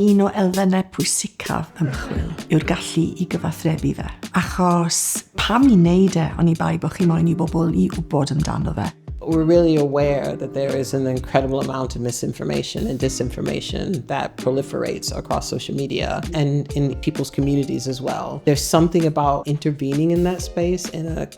Un o elfennau pwysicaf ymchwil yw'r gallu i gyfathrebu fe. Achos pam i wneud e oni bai bod chi moyn i bobl i wybod amdano fe? We're really aware that there is an incredible amount of misinformation and disinformation that proliferates across social media and in people's communities as well. There's something about intervening in that space in a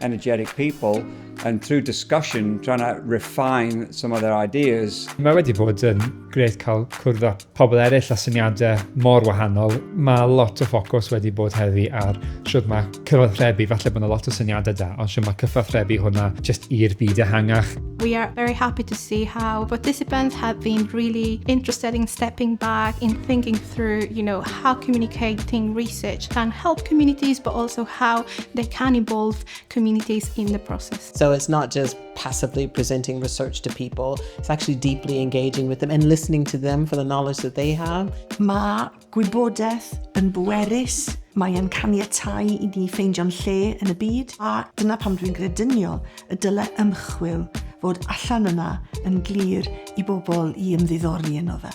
energetic people and through discussion trying to refine some of their ideas. Mae wedi bod yn grêt cael cwrdd â pobl eraill a syniadau mor wahanol. Mae lot o ffocws wedi bod heddi ar siwt mae cyfathrebu, falle bod yna lot o syniadau da, ond siwt mae cyfathrebu hwnna jyst i'r byd ehangach. We are very happy to see how participants have been really interested in stepping back, in thinking through, you know, how communicating research can help communities, but also how they can involve communities in the process. So it's not just passively presenting research to people, it's actually deeply engaging with them and listening to them for the knowledge that they have. Mae gwybodaeth yn bwerus, mae'n caniatau i ni ffeindio'n lle yn y byd, a dyna pam dwi'n grediniol y dylai ymchwil fod allan yna yn glir i bobl i ymddiddori yno fe.